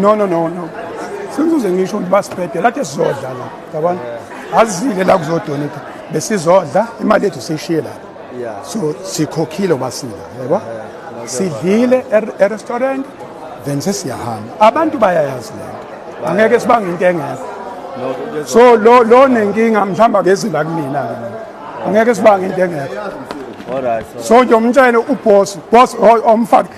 no no no no sengizoze ngisho ukuthi basibhede lathi esizodla la yabona azile la kuzodonetha besizodla imali yethu siyishiye la so sikhokhile uba sila yabo sidlile erestaurant then sesiyahamba abantu bayayazi le nto angeke sibange into engekho so lo lo nenkinga mhlawumbe akezila kunina angeke sibange into engekho so nje umtshele ubhosi boss omfake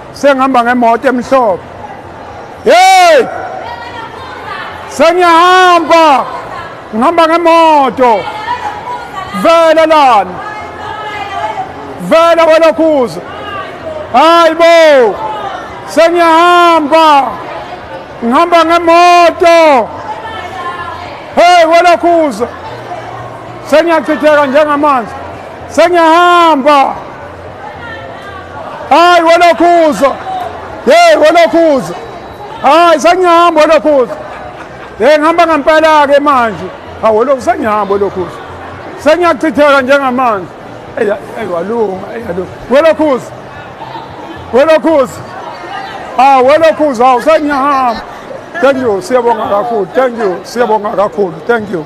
Sengihamba ngemoto emhlophe. Hey! Sengiyahamba. Ngihamba ngemoto. Vele lana. Vele welokhuza. Hayi bo. Sengiyahamba. Ngihamba ngemoto. Hey welokhuza. Sengiyachitheka njengamanzi. Sengiyahamba. hayi wena khuza hey wena khuza hayi sengihamba wena khuza hey ngihamba ngempela ke manje hawu lokhu sengihamba wena khuza sengiyachitheka njengamanzi eyi eyi walunga eyi walunga wena khuza wena khuza Ah, wena khuza hawu sengiyahamba thank you siyabonga kakhulu thank you siyabonga kakhulu thank you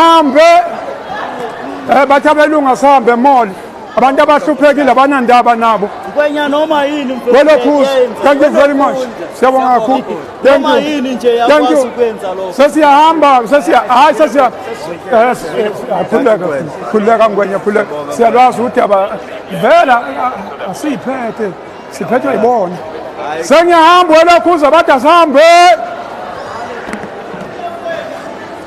Hambe eh bathi abelunga sihambe mall abantu abahluphekile abanandaba nabo kwenya noma yini mfethu welokhuzi thank you very much siyabonga kakhulu thank you yini nje yakwazi ukwenza lokho sesiyahamba sesiya hayi sesiya eh, eh, khuleka khuleka ngwenya khuleka siyalwazi ukuthi aba vela asiphethe siphethwe yibona sengiyahamba welokhuzi abathi asihambe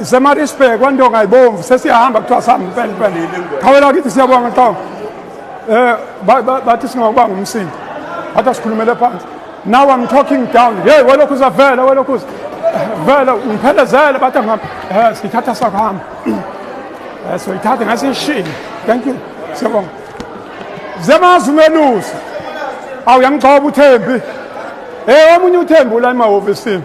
isemarispek kwandonga ibomvu sesiyahamba kuthiwa sihamba impelipele khawela kithi siyabonga qhawu eh, um bathi singakuba ngumsindo bathi asikhulumele phansi now i'm talking down hey welokhu uzavela welokhu uza vele ngiphelezele bathi ngihamba um eh, siyithatha sakuhamba um eh, soyithatha ngasishini thank you siyabonga zemazi umelusi awu yangigxoba uthembi um omunye uthembi ula emahhovisini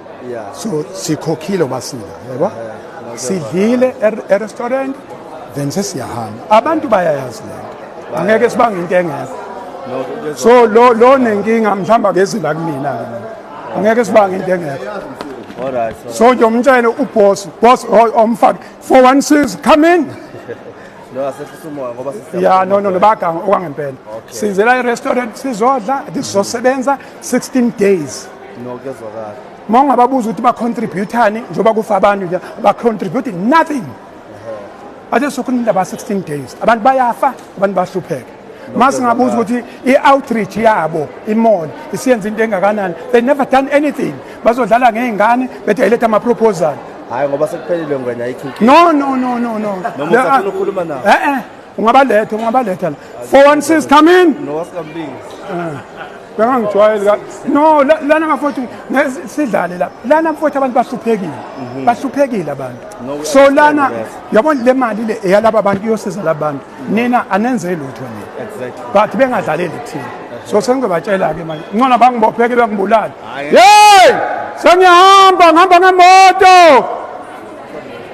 yeah. so sikhokhile obasile yebo yeah. sidlile erestaurant er then sesiyahamba abantu bayayazi lento angeke sibanga into engekho so lo lo nenkinga mhlawumbe akezila kumina angeke sibanga into engekho so nje umtshele uboss boss omfaki 416 come in No asehlisa umoya ngoba sisiya. Yeah no no no baganga okwangempela. Sizela irestaurant sizodla, sizosebenza 16 days no kezwakala uma ungababuza ukuthi bacontributani njengoba kufa abantu nje bacontribute nothing bathe sokhona indaba 16 days abantu bayafa abantu bahlupheka uma singabuza ukuthi i-outreach yabo imall isiyenza into engakanani they never done anything bazodlala ngey'ngane bethe iletha ama-proposal hayi ngoba sekuphelile ngwena ikhinkini no no no no no Noma usafuna ukukhuluma nabo? e-e ungabaletha ungabaletha la 416 come in bengangijwayeli ka no la- lana mafowethu ne- sidlale la lana mfowethu abantu bahluphekile Mhm. bahluphekile abantu No, we so understand lana that. yabona le mali le eyalaba bantu iyosiza laba bantu Mhm. nina anenze lutho nina Exactly. but bengadlaleli kuthina so sengizobatshela-ke manje ncona bangibopheke bengibulale Hhayi. yeyi sengiyahamba ngihamba ngemoto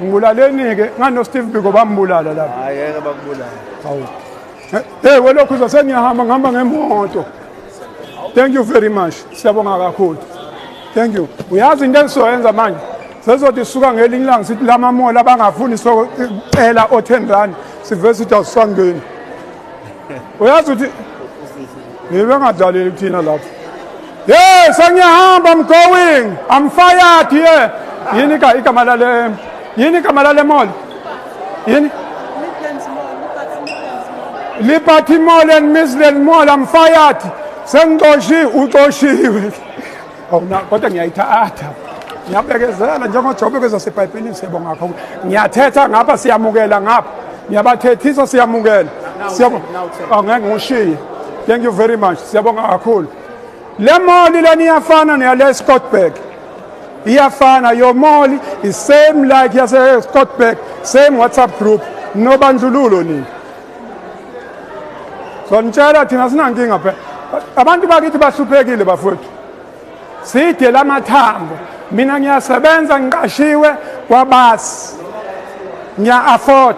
ngibulaleni-ke ngani nosteve biko bambulala lapho hayi yeke bakubulala hawu hey welokhu uza sengiyahamba ngihamba ngemoto thank you very much siyabonga kakhulu thank you uyazi into engizoyenza manje sezothi suka ngelinye ilanga sithi lamamola abangafuni socela o-ten rand sivese ukuthi awusangeni uyazi ukuthi ngibengadlaleli kuthina lapho yes angiyahamba i'm going i'm fired here yini ka igama lale yini igama lale mall yini liberty mall and misland mall i'm fired sengixoshiwe uxoshiwe awuna kodwa ngiyayithatha ngiyabekezela njengoJobe kwezaseBhayibhelini siyabonga ngakho ngiyathetha ngapha siyamukela ngapha ngiyabathethisa siyamukela angeke ngiwushiye thank you very much siyabonga kakhulu le moli leni iyafana neyale Scottburg iyafana your moli is same like yase Scottburg same WhatsApp group nobandlululo nini sonitshela thina sinankinga phela abantu bakithi bahluphekile bafowethu side lamathambo mina ngiyasebenza ngiqashiwe kwabasi ngiya-afford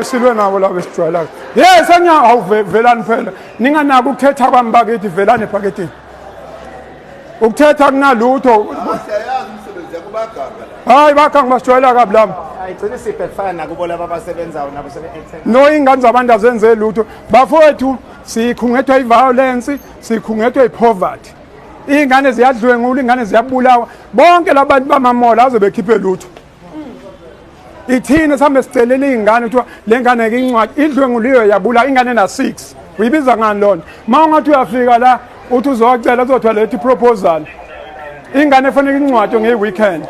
silwe nabo labo esijwayelayo ye sengiya awuvelani phela ninganaki ukuthetha kwami bakithi velani ebhakethini ukuthetha kunalutho siyayazi umsebenzi yakho baganga la hayi bakha ngibashwayela kabi lami ayigcini siphe kufana nakubo laba abasebenzayo nabo sebe-acting no ingane zabantu azenze lutho bafowethu sikhungethwa i-violence sikhungethwa i-poverty iy'ngane ziyadlwengula iy'ngane ziyabulawa bonke labantu bamamola aze bekhiphe lutho ithina sihambe sicelela iy'ngane kuthiwa le ngane ke incwadi idlwenguliwe yabula ingane na-six uyibiza ngani lona uma ungathi uyafika la uthi uzocela kuzothiwa lethi iproposal ingane efanele incwadi ngeyi-weekend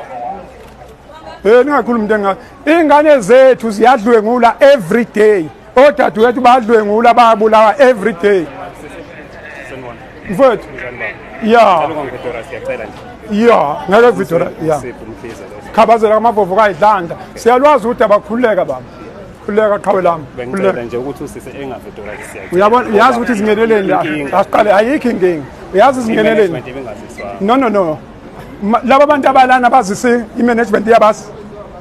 um ningakhulumi into engayo iy'ngane zethu ziyadlwengula every day odadewethu badlwengula bayabulawa every day mfowethu ya ya ngeke vidora ya khabazela kamavovo kayidlanda siyalwazi ukuthi abakhululeka baba khululeka qhawe lami uyabona uyazi ukuthi izingeneleni la asiqale ayikho inkinga uyazi izingeneleni no no no Ma- laba bantu abalana bazise i-management yabazi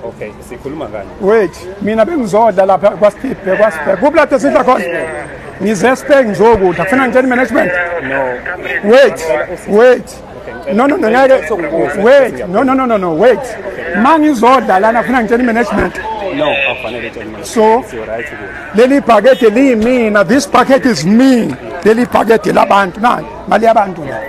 Okay, sikhuluma kanye. wait mina bengizodla lapha kwasiphe kwasiphe kuphi lapho sidla khona ngize sphe ngizokudla kufuna ngitshela i-management No. wait wait no no no ngeke wait no no no no no wait ma ngizodla lana kufuna ngitshela i-management No, akufanele utshele imali. So? It's your right ukudla. leli bhakede liyimina this bucket is me leli bhakede labantu nayo mali yabantu nayo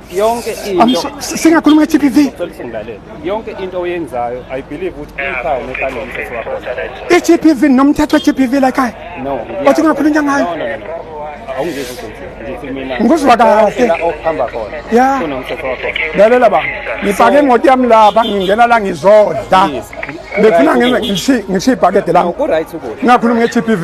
yonke into singakhuluma nge-GBV yonke into oyenzayo i believe ukuthi ikhaya nekhaya nomthetho wakho i-GBV nomthetho we-GBV la ekhaya no othi ungakhulunywa ngayo awungizwa ukuthi ngithi mina ngikuzwa kahle la okuhamba khona ya kunomthetho wakho lalela ba ngipake imoto yami lapha ngingena la ngizodla befuna ngishiye ibhakede lami ngakhuluma nge-GBV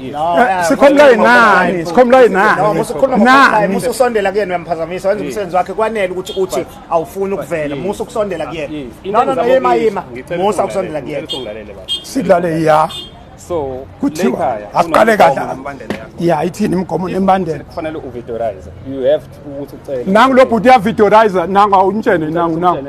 Eh, sikhomla yinani sikhomla yinani musa ukhuluma ngokukhomla musa usondela kuyena uyamphazamisa wenza umsebenzi wakhe kwanele ukuthi uthi awufuni ukuvela musa ukusondela kuyena no no no yima yima musa ukusondela kuyena sidlale ya so kuthiwa asiqale kadlala ya ithini imigomo nembandela kufanele uvideorize you have to ukuthi ucele nangu lo bhuti uyavideorize nangu awuntshene nangu nangu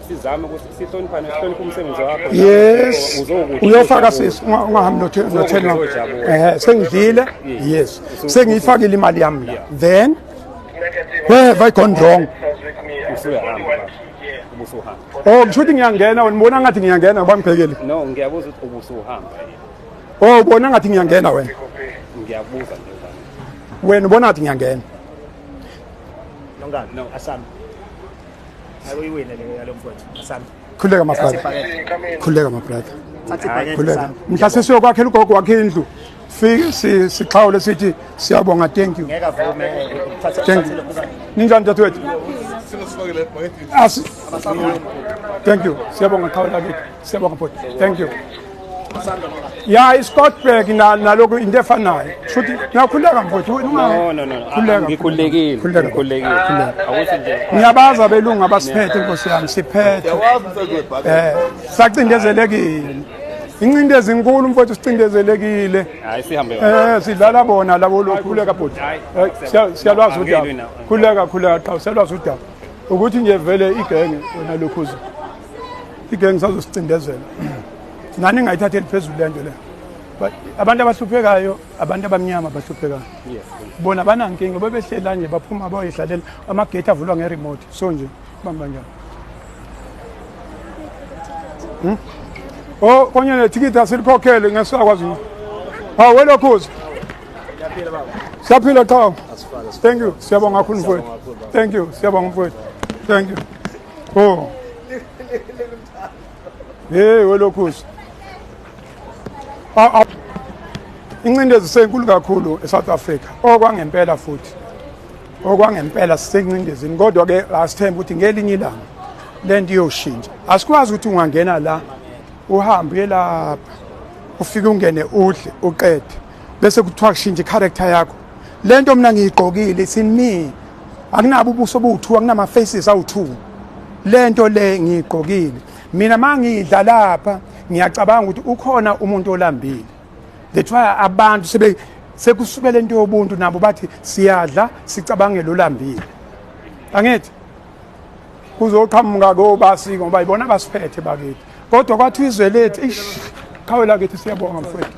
sizame ukuthi sihloniphane sihloniphe umsebenzi wakho yes uyofaka sisi ungahambi notheni wam um sengidlile yes sengiyifakile imali yami la then where have i gone wrong oh kusho ukuthi ngiyangena wena ubona ngathi ngiyangena ngoba ngibhekile no ngiyabuza ukuthi ubusuhamba oh ubona ngathi ngiyangena wena ngiyabuza wena ubona ngathi ngiyangena no, no, asami Hayi uyiwine le yalo mfowethu. Asami. Khuleka my brother. Khuleka my brother. Khuleka. Mhla sesiyokwakhela ugogo wakhe indlu. Fike si sixhawule sithi siyabonga thank you. Ngeke avume ukuthatha Thank you. Ninjani dadewethu? Asi. Thank you. Siyabonga xhawula kithi. Siyabonga bhuti. Thank you. Ya iScottburg na naloko into efanayo. Shuthi ngiyakhuleka mfowethu wena unga. No no no. Khuleka. Ngikhulekile. Khuleka. Ngikhulekile. Awuthi nje. Ngiyabaza abelungu abasiphethe Nkosi yami siphethe. Eh sacindezelekile. Incindezi inkulu mfowethu sicindezelekile. Hayi sihambe. Eh sidlala bona labo lokhuleka bhuti. Eh, siya- Siyalwazi udaba. Khuleka khuleka qha siyalwazi udaba. Ukuthi nje vele igenge wena lokhuza. igenge ngisazosicindezela nani ngayithatha eliphezulu le nto le but abantu abahluphekayo abantu abamnyama abahluphekayo bona banankinga bebehlela nje baphuma bayoyihlalela amagate avulwa nge-remote so nje bamba njani hmm? o oh, konye nethikithi asilikhokhele ngesakwazi hawu welokhuza siyaphila qhawu thank you siyabonga kakhulu mfowethu thank you siyabonga mfowethu thank you Oh. Hey welokhusi. Ah, ah. Incindezi senkulu kakhulu eSouth Africa. Okwangempela futhi. Okwangempela sisencindezini kodwa ke asithembe ukuthi ngelinye ilanga lento iyoshintsha. Asikwazi ukuthi ungangena la uhambe lapha ufike ungene udle uqede bese kuthiwa kushintsha i-character yakho le nto mina ngiyigqokile it's in me akunabo ubuso obuwu-two akunama-faces awu-two le nto le ngiyigqokile mina uma ngidla lapha ngiyacabanga ukuthi ukhona umuntu olambile that's why abantu sebe sekusukela into yobuntu nabo bathi siyadla sicabangele olambile angithi kuzoqhamuka kobasi ngoba ibona basiphethe bakithi kodwa kwathi izwe lethu ish khawe lakithi siyabonga mfowethu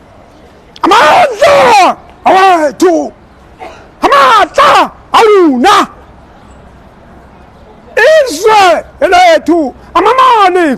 amandla awethu amandla awuna izwe elethu amamani